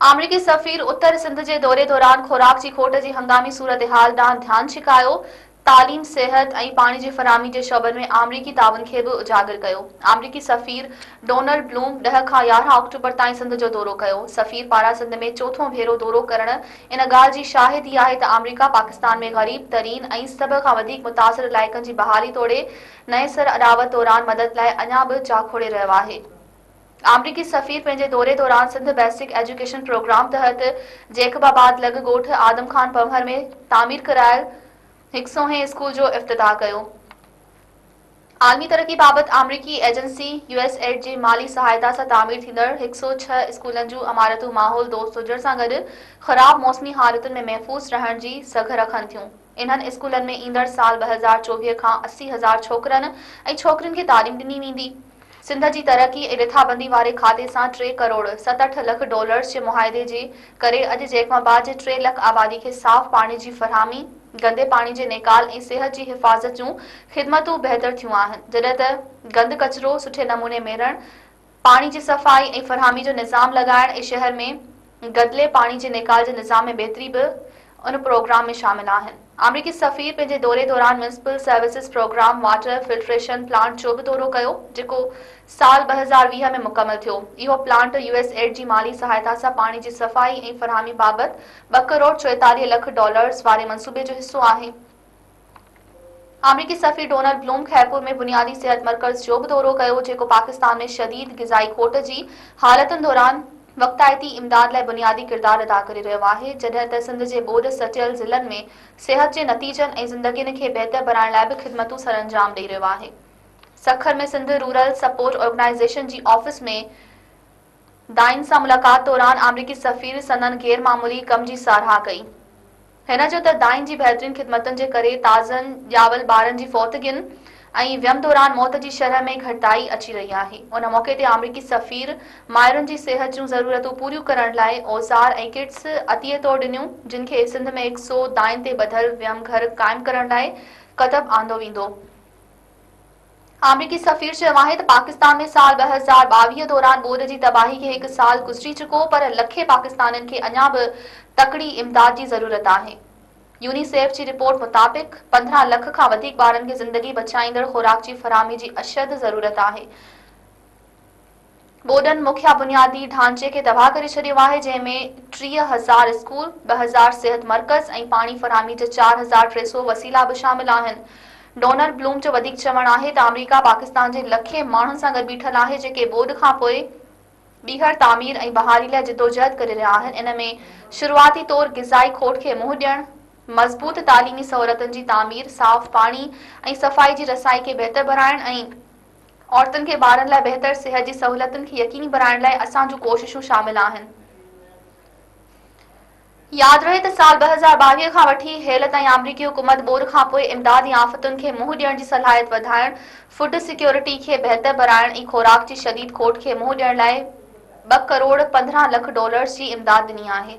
آمريڪي سفير اتر سنڌ جي دوري دوران خوراڪ جي کوٽ جي هنگامي صورتحال ڏانهن ڌيان ڇڪايو، تعليم، صحت ۽ پاڻي جي فراهمي جي شعبن ۾ آمريڪي تعاون کي به اجاگر ڪيو. آمريڪي سفير ڊونلڊ بلوم ڏهه کان يارهن آڪٽوبر تائين سنڌ جو دورو ڪيو. سفير پاران سنڌ ۾ چوٿون ڀيرو دورو ڪرڻ ان ڳالهه جي شاهد ئي آهي ته آمريڪا پاڪستان ۾ غريب ترين ۽ سڀ کان وڌيڪ متاثر علائقن جي بحالي توڙي نئين سر اڏاوت دوران مدد لاء اڃا به جاکوڙي رهيو آهي. آمريڪي سفير پنهنجي دوري دوران سنڌ بيسڪ ايجوڪيشن پروگرام تحت جيڪب آباد لڳ ڳوٺ آدم خان پنهور ۾ تعمير ڪرايل هڪ سونهين اسڪول جو افتتاح ڪيو. عالمي ترقي بابت آمريڪي ايجنسي يو ايس ايڊ جي مالي سهائتا سان تعمير ٿيندڙ هڪ سؤ ڇهه اسڪولن جون عمارتون ماحول دوست هجڻ سان گڏ خراب موسمي حالتن ۾ محفوظ رهڻ جي سگهه رکن ٿيون. انهن اسڪولن ۾ ايندڙ سال ٻه هزار چوويهه کان اسي هزار ڇوڪرن ۽ ڇوڪرين کي تعليم ڏني ويندي. سنڌ جي ترقي ۽ رٿابندي واري کاتي سان ٽي ڪروڙ ستهٺ لک ڊالرز جي معاهدي جي ڪري اڄ جيڪب آباد جي ٽي لک آبادي کي صاف پاڻي جي فراهمي، گندي پاڻي جي نيڪال ۽ صحت جي حفاظت جون خدمتون بهتر ٿيون آهن جڏهن ته گند ڪچرو سٺي نموني ميڙڻ، پاڻي جي صفائي ۽ فراهمي جو نظام لڳائڻ ۽ شهر ۾ گدلي پاڻي جي نيڪال جي نظام ۾ بهتري به ان پروگرام ۾ شامل آهن. آمريڪي سفير پنهنجي دوري دوران municipal services program water filtration plant جو به دورو ڪيو، جيڪو سال ٻه هزار ويهه ۾ مڪمل ٿيو. اهو پلانٽ يو ايس ايڊ جي مالي سهائتا سان پاڻي جي صفائي ۽ فراهمي بابت ٻه ڪروڙ چوئيتاليهه لک ڊالرز واري منصوبي جو حصو آهي. آمريڪي سفير ڊونلڊ بلوم خيرپور ۾ بنيادي صحت مرڪز جو به دورو ڪيو، جيڪو پاڪستان ۾ شديد غذائي کوٽ جي حالتن دوران وقتائتي امداد لاء بنيادي ڪردار ادا ڪري رهيو آهي، جڏهن ته سنڌ جي ٻوڏ سٽيل ضلعن ۾ صحت جي نتيجن ۽ زندگين کي بهتر بڻائڻ لاء به خدمتون سرانجام ڏئي رهيو آهي. Sukkur ۾ Sindh rural support organisation جي آفيس ۾ دائن سان ملاقات دوران آمريڪي سفير سندن غير معمولي ڪم جي ساراهه ڪئي. هن چيو ته دائن جي بهترين خدمتن جي ڪري تازن ڄاول ٻارن جي فوتگين ۽ ويم دوران موت جي شرح ۾ گهٽتائي اچي رهي آهي. ان موقعي تي آمريڪي سفير مائرن جي صحت جون ضرورتون پوريون ڪرڻ لاء اوزار ۽ ڪٽس عطيي طور ڏنيون جن کي سنڌ ۾ هڪ سو دائن تي ٻڌل ويم گهر قائم ڪرڻ لاء ڪتب آندو ويندو. آمريڪي سفير چيو آهي ته پاڪستان ۾ سال ٻه هزار ٻاويهه دوران ٻوڏ جي تباهي کي هڪ سال گذري چڪو پر لکين پاڪستانين کي اڃا به تڪڙي امداد جي ضرورت آهي. يونيسيف جي رپورٽ مطابق پندرهن لک کان وڌيڪ ٻارن کي زندگي بچائيندڙ خوراڪ جي فراهمي جي اشد ضرورت آهي. ٻوڏن مکيه بنيادي ڍانچي کي تباهه ڪري ڇڏيو آهي، جنهن ۾ ٽيهه هزار اسڪول، ٻه هزار صحت مرڪز ۽ پاڻي فراهمي جا چار هزار ٽي سؤ وسيلا به شامل آهن. ڊونلڊ بلوم جو وڌيڪ چوڻ آهي ته آمريڪا پاڪستان جي لکين ماڻهن سان گڏ بيٺل آهي، جيڪي ٻوڏ کانپوء ٻيهر تعمير ۽ بحالي لاء جدوجهد ڪري رهيا آهن، ان ۾ شروعاتي طور غذائي کوٽ کي منهن ڏيڻ، مضبوط تعليمي سهولتن جي تعمير، صاف پاڻي ۽ صفائي جي رسائي کي بهتر بڻائڻ ۽. عورتن کي ٻارن لاء بهتر صحت جي سهولتن کي يقيني بڻائڻ لاء اسان جون ڪوششون شامل آهن. ياد رهي ته سال ٻه هزار ٻاويهه کان وٺي هيل تائين آمريڪي حڪومت ٻوڏ کانپوء امدادي آفتن کي منهن ڏيڻ جي صلاحيت وڌائڻ، فوڊ سيڪيورٽي کي بهتر بڻائڻ ۽ خوراڪ جي شديد کوٽ کي منهن ڏيڻ لاء ٻه ڪروڙ پندرهن لک ڊالرز جي امداد ڏني آهي.